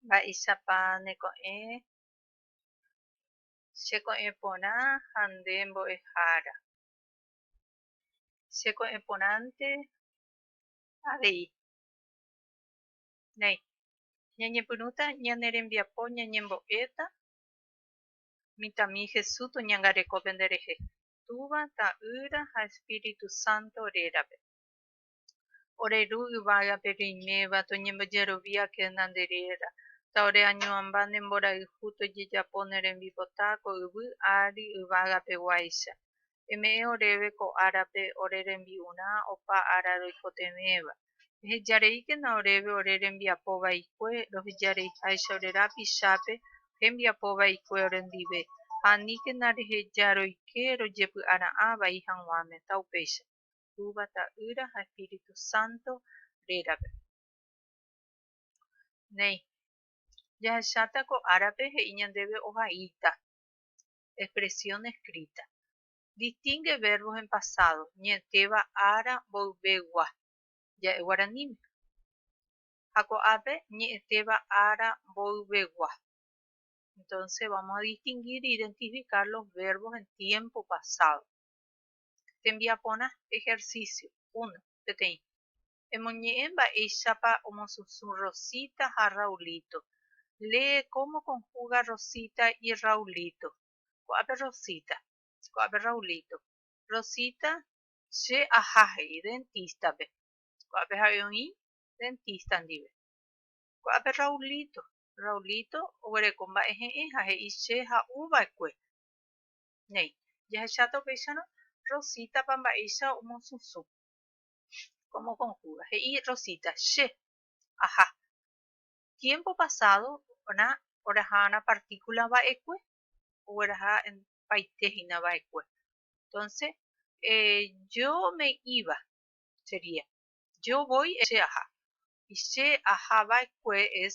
Mba'éichapa neko'ẽ che ko'ẽ porã ha nde mbo'ehára? Che ko'ẽ porãnte avei, néi, ñañepyrũta ñane rembiapo ñañembo'éta mitãmi Hesu toñangarekópe nderehe, Túva, Ta'ýra ha Espíritu Santo rérape. Ore Ru yvágape roiméva toñembojeroviakena nde réra, ta ore añuãmba ne mborayhu tojejapo ne rembipota ko yvy ári yvágape guáicha. Eme'ẽ oréve ko árape ore rembi'urã opa ára roikotevẽva. Eheja reíkena oréve ore rembiapo vaikue, roheja reiháicha ore rapichápe hembiapo vaikue orendive, ha aníkena reheja roike rojepy'ara'ã vai haguãme, ta upéicha. Túva, Ta'ýra ha Espíritu Santo rérape. Néi, jahecháta ko árape he'i ñandéve ohaíta, expresión escrita. Distingue verbos en pasado, ñe'ẽtéva ára mboyvegua, ja'e guaraníme. Ha ko'ápe, ñe'ẽtéva ára mboyvegua. Entonces, vamos a distinguir e identificar los verbos en tiempo pasado. tembiaporã ejercicio, uno, peteĩ. Emoñe'ẽ mba'éichapa omosũsũ Rosita ha Raulito. Lee cómo conjuga Rosita y Raulito. Ko'ápe Rosita. Ko'ápe Raulito. Rosita, Che aha, he'i, dentista-pe. Ko'ápe jave oĩ, dentista ndive. Ko'ápe Raulito. Raulito oguereko mba'ehe'ẽ ha he'i che ha'uva'ekue. néi. Jahecháta upéicharõ Rosita-pa mba'éicha omosũsũ. Kómo kon júga. He'i Rosita, Che aha. Tiémpo pasádo na oraha na partíkula va'ekue, ogueraha paite hína va'ekue. Entónse je ome'íva sería, je voi che aha. Y che aha va'ekue es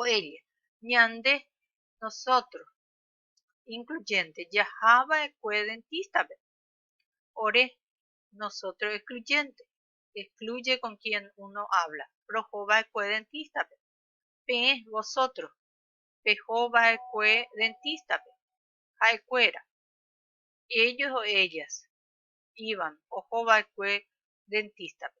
Oĩrire ñande, nosotros incluyente, jahava'ekue dentista-pe. Ore, nosotros excluyente, excluye con quien uno habla, rohova'ekue dentista-pe. Peẽ, vosotros, pehova'ekue dentista-pe. Ha'ekuéra, ellos o ellas, iban, ohova'ekue dentista-pe.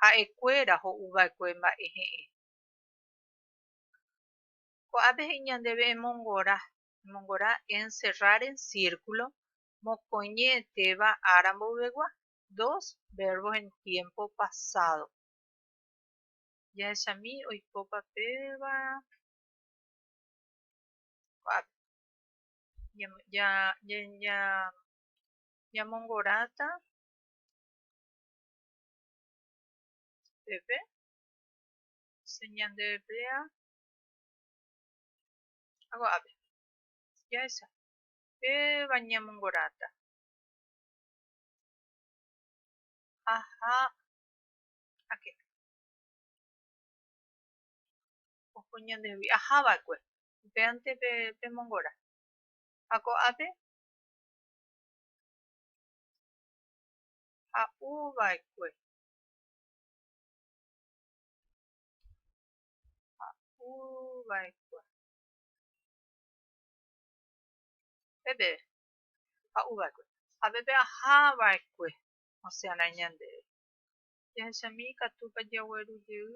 ha'ekuéra ho'uva'ekue mba'e he'ẽ. Ko'ápe he'i ñandéve emongora, emongora encerrar en círculo, mokõi ñe'ẽtéva ára mboyvegua, dos verbos en tiempo pasado. Jahechami oikópa péva ko'ápe. Ñamongorata Peve se ñande emplea hago ave ya esa pe baña mongorata ajá ake ojo ñande vi ajá va kue pe ante pe pe mongora hago ave ha'u va'ekue. Ha'u va'ekue. Peve, ha'u va'ekue. Ha peve aha va'ekue osẽrã ñandéve. Jahechami ikatúpa jagueru jey.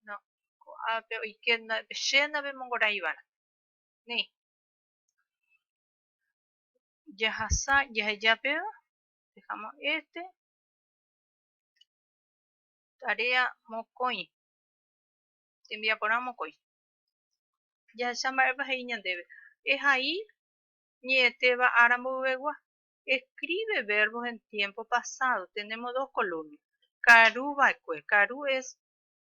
No, ko'ápe oike, chéna pemongoraiva'erã. Ni, jahasa jaheja péva dejamos este tarea mokõi tembiaporã mokõi jahecha mba'épa he'i ñandéve ehai ñe'ẽtéva ára mboyvegua escribe verbos en tiempo pasado tenemos dos columnas karu va'ekue karu es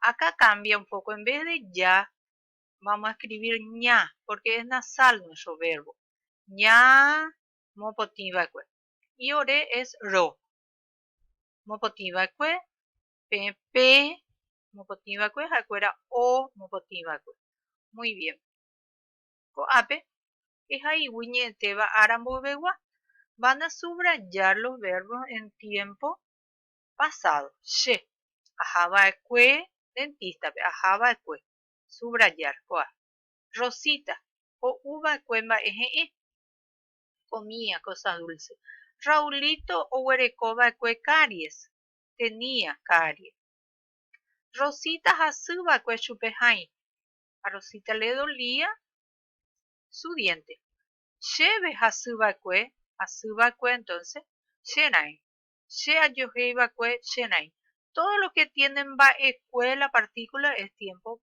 Acá cambia un poco, en vez de ya, vamos a escribir ña, porque es nasal nuestro verbo. Ña mopotĩ vaekue. Y ore es ro. Mopotĩ vaekue, pe, pe, mopotĩ vaekue, haekuera o, mopotĩ vaekue. Muy bien. Ko'ápe, ehaígui ñe'ẽtéva ára mboyvegua. Van a subrayar los verbos en tiempo pasado, che, ahava'ekue dentista-pe, ahava'ekue, subrayar, ko'a, Rosita, ho'uva'ekue mba'e he'ẽ, comía cosa dulce, Raulito oguerekova'ekue caries, tenía caries, Rosita hasyva'ekue chupe hãi, a Rosita le dolía su diente, chéve hasyva'ekue, hasyva'ekue entonces, che raẽ, Che ajohéi va'ekue che raĩ. Todo lo que tiene mba'ekue la partícula es tiempo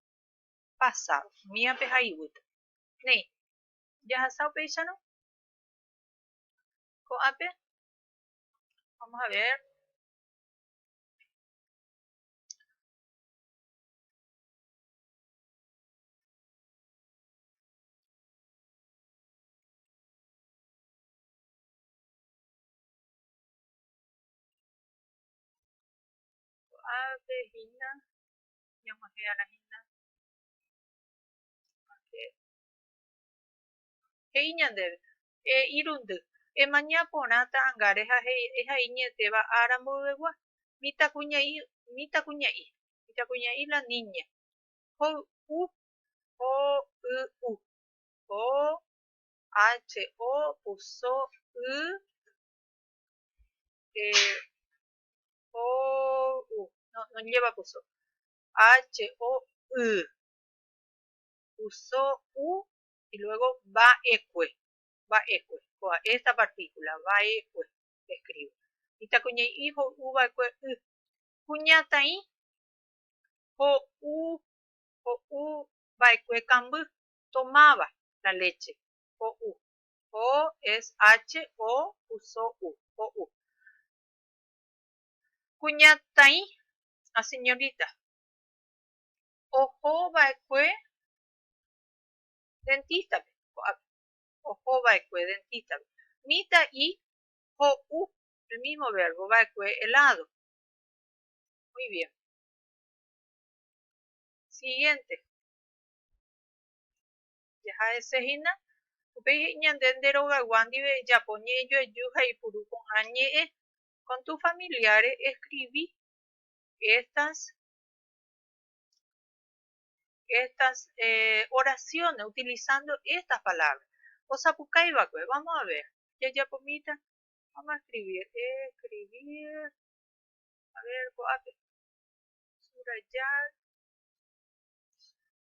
pasado. Míape ha iguýpe. Néi, jahasa upéicharõ. Ko'ápe, vamos a ver. Ko'ápe hína ñamohearahína porke he'i ñandéve, E irundy, emaña porã ta'angáre ha ehai ñe'ẽtéva ára mboyvegua, mitãkuña'i, mitãkuña'i la niña, hoy'u, ho'y'u, ho, ache, o, puso, y, Eh, o, u. No, no lleva cuso. H, O, Y. Cuso, U. Y luego va eque. Va eque. Coa esta partícula. Va eque. Escribo. Y ta cuña y hijo U va eque Y. Cuña ta y. O, U. O, U. Va eque camby. Tomaba la leche. O, U. OSHO uso u, ho'u. Kuñataĩ, a señorita, oho va'ekue dentista-pe ko'ápe, oho va'ekue dentista-pe. Mitã'i, ho'u, el mismo verbo, va'ekue helado. Muy bien. Siguiente. Jaha hese hína. Upéi he'i ñande nde rogaygua ndive ejapo ñe'ẽjoaju ha ipuru ko'ã ñe'ẽ. Con tus familiares escribí estas estas oraciones utilizando estas palabras. Osapukái va'ekue, vamos a ver. Jajapomíta, vamos a escribir, escribir, a ver ko'ápe, subrayar,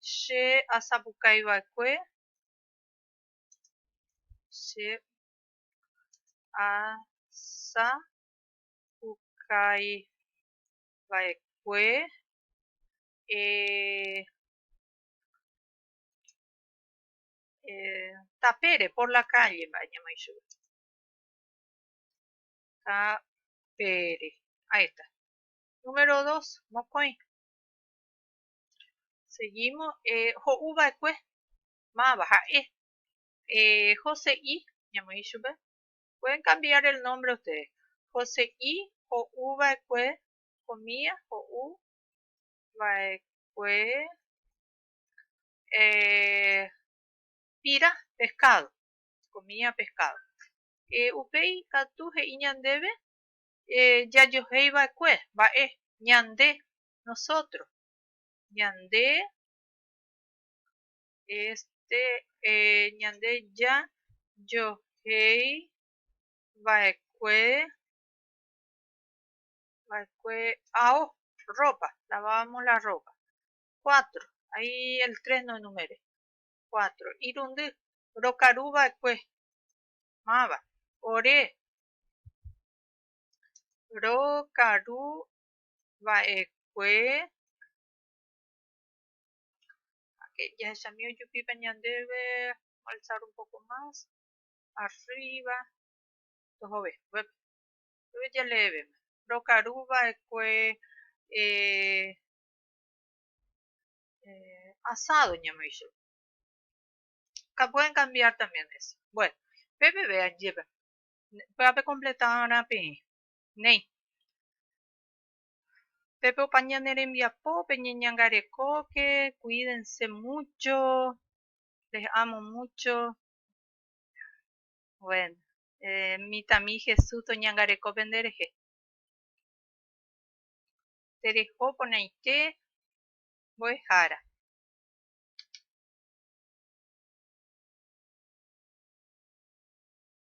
Che asapukái va'ekue, che asapukái va'ekue tapére, por la calle mba'e ñamoĩ chupe. Tapére. Ahí está. Número dos, mokõi. Seguímo, ho'u va'ekue máva ha'e, Jose'i ñamoĩ ichupe, pueden cambiar el nombre ustedes, Jose'i ho'u va'ekue comida, ho'u va'ekue pira, pescado, comida pescado. Upéi katu he'i ñandéve jajohéi va'ekue, mba'e, ñande Nosotros. Ñande este ñande ja johei vaekue vaekue ao ropa. Lavábamos la ropa. Cuatro. Ahí el tres no enumeré. Cuatro. Irundy. Rokaru vaekue. Máva. Ore. Rokaru va'ekue háke jahechami ojupíva ñandéve alzar un poco más arriba tohove upépe upépe jaleévema rokaru va'ekue asado ñamoĩ chupe pueden cambiar también eso bueno pepeve ajépa pya'ape completarã peẽ Néi. Pépe opa ñane rembiapo peñeñangarekóke, cuídense mucho, les amo mucho. Bueno, eh, mitãmi Jesús toñangareko penderehe. Tereho porãite mbo'ehára.